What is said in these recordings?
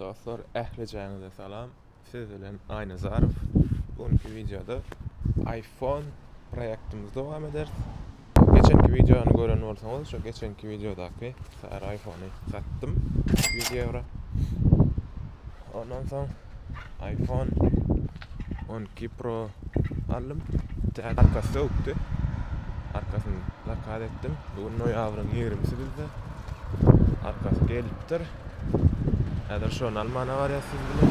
Dostlar ählijaňyza salam siz bilen Aýnazarow bu günki wideoda iPhone proýektimizi dowam ederis. Geçenki wideony gören bolsaňyz şu geçenki wideodaky sary iPhone-y satdym 100 ýewro. Ondan soň iPhone 12 Pro aldım. Täze arkasy sökdi. Arkasyny zakaz etdim. Bugün noýabryň 20-si bizde. Arkasy gelipdir. Häzir şony almana barýas siz bilen.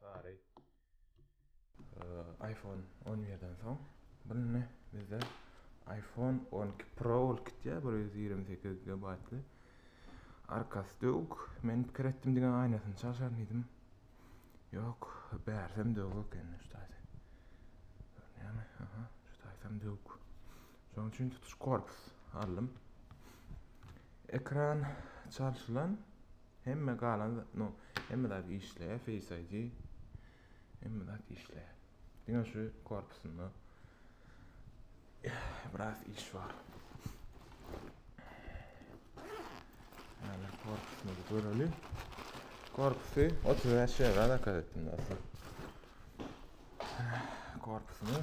Sary iPhone 11-den soň bu ne bizde iPhone 12 Pro ol kitýä 128 GB. Arkasy döwük. Men pikir etdim diňe aýnasyny çalşaryn diýdim. Ýok, bärsem döwük ekeni şu taýda. Görünýärmi? Aha, şu taýdam döwük. Şonuň üçin tutuş korpus aldym. Ekran çalşylan, hemme galan, no, hemme zat işleýär, Face ID. Hemme zat işleýär. Diňe şu korpusynda biraz iş bar. Ýa-da korpusyny göreli. Korpusy 35 ýere zakaz etdim dostlar. Korpusyny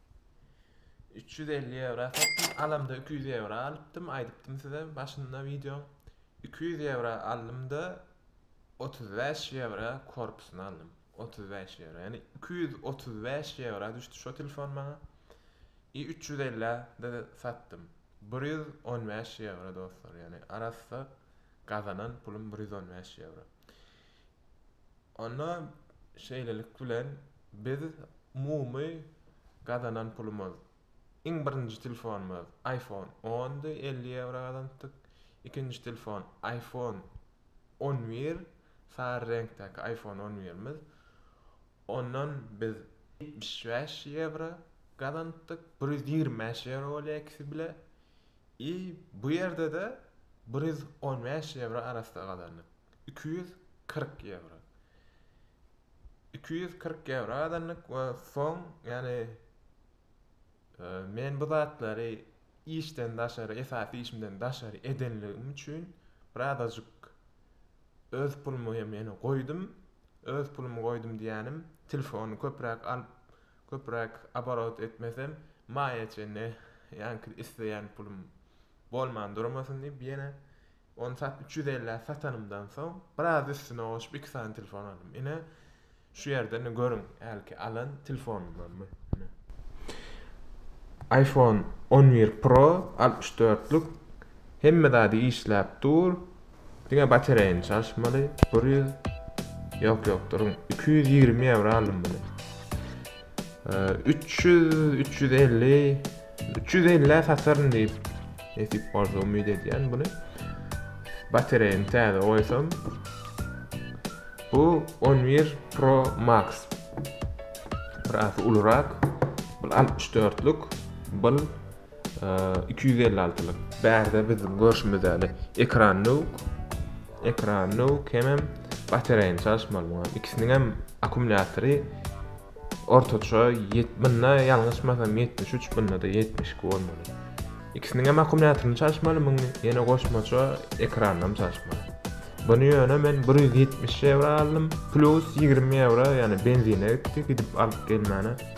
Üç ýüz elli ýewra satdym. Alamda iki ýüz ýewra alypdym. Aýdypdym size başynda wideoň. Iki ýüz ýewra aldym-da, otuz bäş ýewra korpusyny aldym. Otuz bäş ýewra. Ýani iki ýüz otuz bäş ýewra düşdi şo telefon maňa. I üç ýüz ellä de satdym. Bir ýüz on bäş ýewra dostlar. Ýani arassa gazanan pulum bir ýüz on bäş ýewra. Onda şeýlelik bilen biz umumy gazanan pulumyz, iň birinji telefonymyz iPhone ondy, elli ýewro gazanypdyk, ikinji telefon iPhone on bir, sary reňkdäki iPhone on birimiz, ondan biz ýetmiş bäş ýewro gazanypdyk, bir ýüz ýigrimi bäş ýewro bolýar ikisi bile i bu ýerde-de bir ýüz on bäş ýewro arassa gazandyk. Iki ýüz kyrk ýewro. Iki ýüz kyrk ýewro azanlyk we soň, ýagny, men bu zatlary işden daşary, esasy işimden daşary edenligim üçin bir azajyk öz pulumy hem ýene goýdum. Öz pulumy goýdum diýýänim, telefony köpräk alyp, köpräk oborot etmesem, maýa çenli ýaňky isleýän pulum bolman durmasyn diýip, ýene Ony sat üç ýüz ellä satanymdan soň biraz üstüne goşup iki sany telefon aldym. Ine şu ýerde ine görüň hälki alan telefonymdan bu. Ine. iPhone on bir Pro altmyş dörtlük hemme zady işläp dur. Diňe batareýany çalyşmaly. Bir ýüz ýok ýok duruň iki ýüz ýigrimi ýewro aldym muny. Üç ýüz, üç ýüz elli, üç ýüz ellä sataryn diýip nesip bolsa umyt edýän buny. Batareýany täze goýsam. Bu 11 Pro Max. Biraz ulurak. Bu 64-lük. Bu iki ýüz elli altylyk bärde biziň görşümiz ýaly ekran ýok ekran ýok hemem batareýany çalyşmaly muňa ikisiniň hem akkumulýatory ortaça munda ýalňyşmasam ýetmiş üç munda da ýetmiş iki bolmaly ikisiniň hem akkumulýatoryny çalyşmaly muny ýene goşmaça ekranynam çalyşmaly buny ýöne men bir ýüz ýetmiş ýewro aldym plyus ýigrimi ýewro ýagny benzine gitdi gidip alyp gelmäne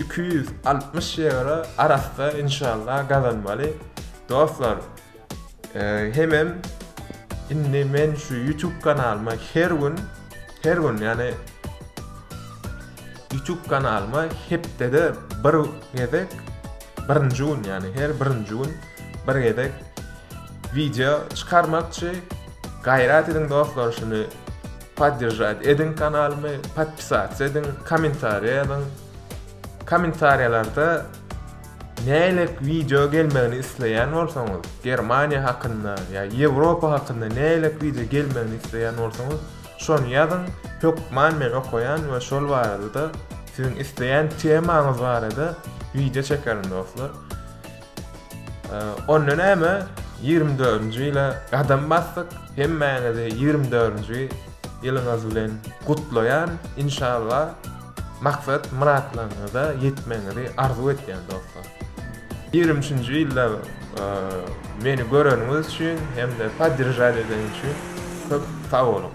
Iki ýüz altmyş ýewro arassa inşallah gazanmaly dostlar hemem indi men şu ýutub kanalyma her gün her gün ýagny ýutub kanalyma hepdede bir gezek birinji gün ýagny her birinji gün bir gezek wideo çykarmakçy gaýrat ediň dostlar şuny Poddержать ediň kanalymy, podpisatsa ediň, kommentariýa ýazyň. Kommentariýalarda nälik wideo gelmegini isleýän bolsaňyz, Germaniýa hakynda ýa Ýewropa hakynda nälik wideo gelmegini isleýän bolsaňyz, şony ýazyň, hökman men okaýan we şol barada-da siziň isleýän temaňyz barada wideo çekerin dostlar. Onda näme? 24-nji ýyla gadam basdyk. Hemmäňizi 24-nji ýylyňyz bilen gutlaýan. Inşallah maksat myratlaryňyza ýetmegiňizi arzuw etýän dostlar. 23-nji ýylda meni göreniňiz üçin hem-de podderžat edeniňiz üçin köp sag boluň.